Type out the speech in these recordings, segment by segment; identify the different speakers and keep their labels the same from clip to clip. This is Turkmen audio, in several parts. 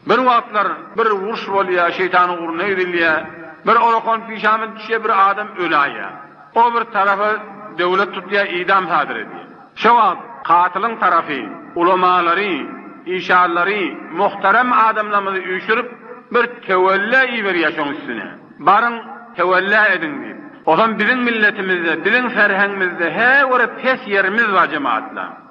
Speaker 1: Bir wagtlar bir uruş bolýar, şeýtan ugruna gidilýär. Bir orakan pişama düşýär, bir adam öläýýär. O bir tarapy döwlet tutýar, idam sadyr edýär. Şo wagt katylyň tarapy ulamalary, işarlary, muhterem adamlarymyzy üýşürip, bir töwella iberýär şoň üstüne. Baryň, töwella ediň diýip. Otam biziň milletimizde, biziň serheňimizde hä görä pes ýerimiz bar, jemagatlar.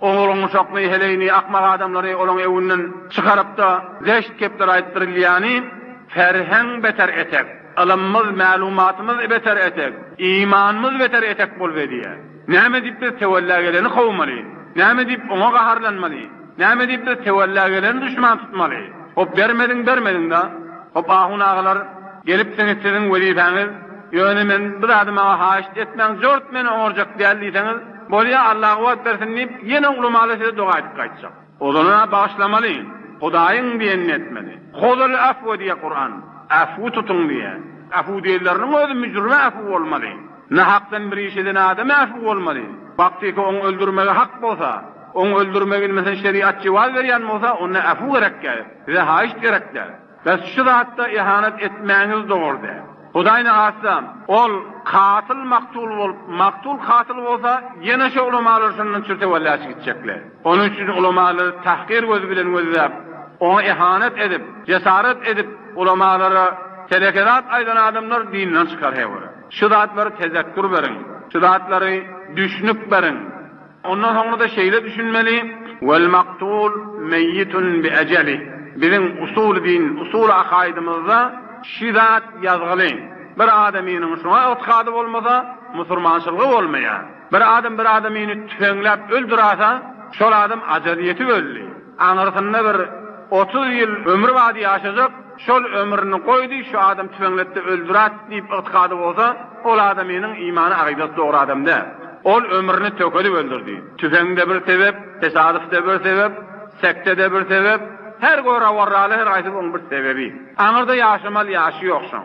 Speaker 1: Ogluň uşakly heleýini, akmak adamlary olaň öwünden çykaryp-da, zeşt gepler aýdyp dirilýäni, ferheň beter etek, ylymymyz, mälumatymyz beter etek, imanymyz beter etek bolup edýär. Näme diýip biz töwella geleni kowmaly? Näme diýip oňa gaharlanmaly? Näme diýip biz töwella geleni duşman tutmaly? Hop bermediň, bermediň-da. Hop ahun agalar, gelipsiňiz siziň wezipäňiz, ýöne men bu zady maňa haýyşt etmäň, jort meni oňarjak däl diýseňiz, Bolýa, Alla kuwwat bersin diýip, ýene ulamaly size doga aýdyp gaýtjak. Ozalynam bagyşlamaly, Hudaýyň diýenini etmeli. Huzul afwa diýýär Kuran. Afwy tutuň diýýär. Afw diýenleriniň özi müjrime afw bolmaly. Nahakdan bir iş eden adama afw bolmaly. Baktiki oň öldürmegi hak bolsa, oň öldürmegi meselem şeriat jewaz berýän bolsa onda afw gerekýär. Size haýyşt gerek däl. Bäs şu zatda ehanet etmäňiz dogry däl. Hudaý ne hasam, ol katyl maktul bolup, maktul katyl bolsa, ýene şo ulamalar şondan çürte wellâç gitjekler. Onuň üçin ulamalary tahkyr gözi bilen gözläp, oňa ehanet edip, jesaret edip, ulamalara teleke zat aýdan adamlar dinden çykar hewir. Şu zatlary tezekkür beriň. Şu zatlary düşnük beriň. Ondan soňra-da şeýle düşünmeli, Wal maktul meýitun bi ejeli, Biziň usuly din, usuly akaýdymyzda şi zat ýazgyly, Bir adamynyň şuňa ygtykady bolmasa, musurmançylgy bolmaýar. Bir adam bir adamyny tüfeňläp öldürasa, şol adam ajal ýetip öldi. Aňyrsynda bir otuz ýyl ömri bady ýaşajak. Şol ömrüni goýdy, şu adam tüfeňletdi, öldürat diýip ygtykady bolsa, ol adamynyň imany akydasy dogry adam däl. Ol ömrüni tökedip öldürdi. Tüfeň-de bir sebep, tesadyf-de bir sebep, sekte-de bir sebep, her görawarraly her gaýsy oň bir sebebi. Aňyrda ýaşamaly ýaşy ýok şoň.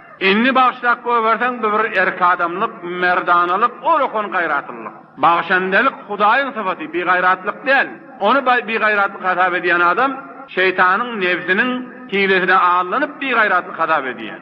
Speaker 1: Indi bagşylap goýberseň bu bir erkadamlyk, merdanalyk, olakan gaýratlylyk. Bagşandelik Hudaýyň sypaty, bigaýratlyk däl. Ony bigaýratlyk hasap edýän adam şeýtanyň, nebsiniň, hilesine aldanyp bigaýratlyk hasap edýär.